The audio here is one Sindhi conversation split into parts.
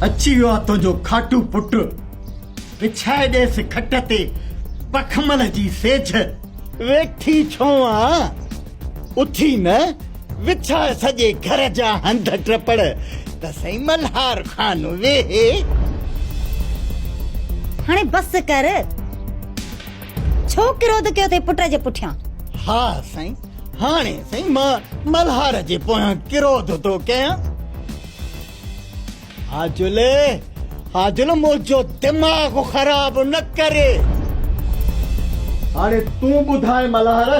اچي ويو آ تنهنجو کاٽو پٽ، وڇائي ڏيس کٽ تي پکمل جي سيجهه. ويٺي ڇو آن؟ اٿي نه وڇاء سڄي گهر جا هنڌ ٽپڙ ته سائين ملهار خان ويهي. هاڻي بس ڪر. ڇو ڪروڌ ڪيو اٿئي پٽ جي پٺيان؟ ها سائين، هاڻي سائين مان ملهار جي پويان ڪروڌ ٿو ڪيان. حاجل، حاجل منهنجو دماغ خراب نه ڪر. هاڻي تون ٻڌاء ملهار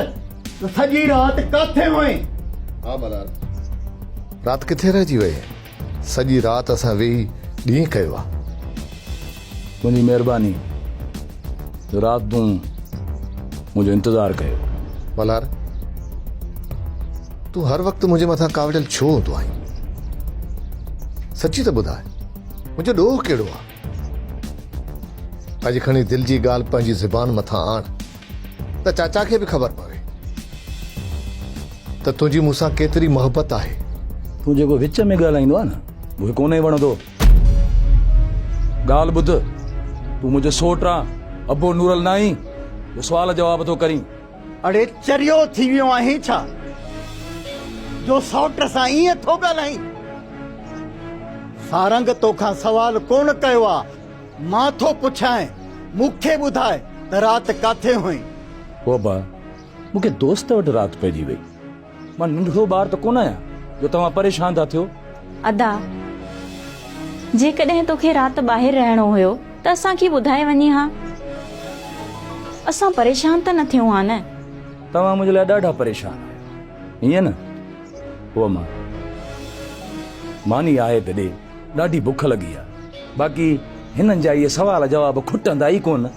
ته سڄي رات ڪاٿي هئين؟ ها ملهار، رات ڪٿي رهجي وئي؟ سڄي رات اسان ويهي ڏينهن ڪيو آ. تنهنجي مهرباني جو رات تون منهنجو انتظار ڪيو. ملهار تون هر وقت منهنجي مٿان ڪاوڙيل ڇو هوندو آهين؟ سچي ته ٻڌاء منهنجو ڏوهه ڪهڙو آ؟ اڄ کڻي دل جي ڳالهه پنهنجي زبان مٿان آڻ ته چاچا کي به خبر پوي ته تنهنجي مون سان ڪيتري محبت آهي. تون جيڪو وچ ۾ ڳالهائيندو آهي نه اهو ڪونهي وڻندو. ڳالهه ٻڌ، تون منهنجو سوٽ آن، ابو نورل ناهين جو سوال جواب ٿو ڪرين. اڙي چريو ٿي ويو آهين ڇا جو سئوٽ سان ائين ٿو ڳالهائين. سارنگ توکان سوال ڪونه ڪيو آ مان ٿو پڇانء مون کي ٻڌاء ته رات ڪاٿي هئين. بابا مون کي دوست وٽ رات پئجي وئي. مان ننڍڙو ٻار ته ڪونه آهيان جو توهان پريشان ٿا ٿيو. ادا جيڪڏهن توکي رات ٻاهر رهڻو هيو ته اسان کي ٻڌائي وڃي ها. اسان پريشان ته نه ٿيون ها نه. توهان منهنجي لاء ڏاڍا پريشان آهيو ائين نه؟ هو مان ماني آهي ته ڏي ڏاڍي بک لڳي آهي. باقي هنن جا اهي سوال جواب کٽندا ئي ڪونه.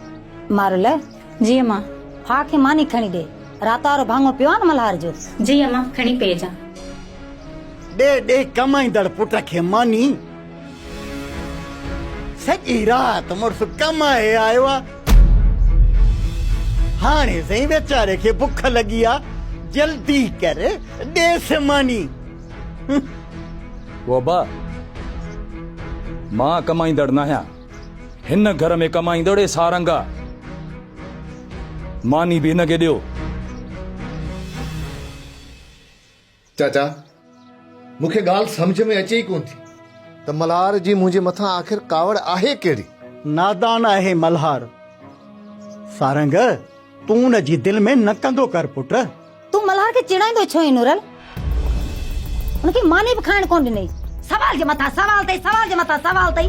مارله جي اما! ڦاهه کي ماني کڻي ڏي. رات وارو ڀاڱو پيو آهي نه ملهار جو. جي اما! کڻي پيئي جان. ڏي ڏي ڪمائيندڙ پٽ کي ماني. سڄي رات مڙس ڪمائي آيو آ. هاڻي سائين ويچاري کي بک لڳي آ. جلدي ڪر ڏيس ماني. بابا! مان ڪمائيندڙ ناهيان. هن گهر ۾ ڪم آئيندڙ اي سارنگ آ. ماني به هن کي ڏيو. چاچا، مون کي ڳالهه سمجهه ۾ اچي ئي ڪونه ٿي. ته ملهار جي منهنجي مٿان آخر ڪاوڙ آهي ڪهڙي؟ نادان آهي ملهار. سارنگ، تون ان جي دل ۾ نه ڪندو ڪر پٽ. تون ملهار کي چيڙائيندو ڇو آهين نورل؟ ان کي ماني به کائڻ ڪونه ڏنئي. سوال جي مٿان سوال اٿئي، سوال جي مٿان سوال اٿئي.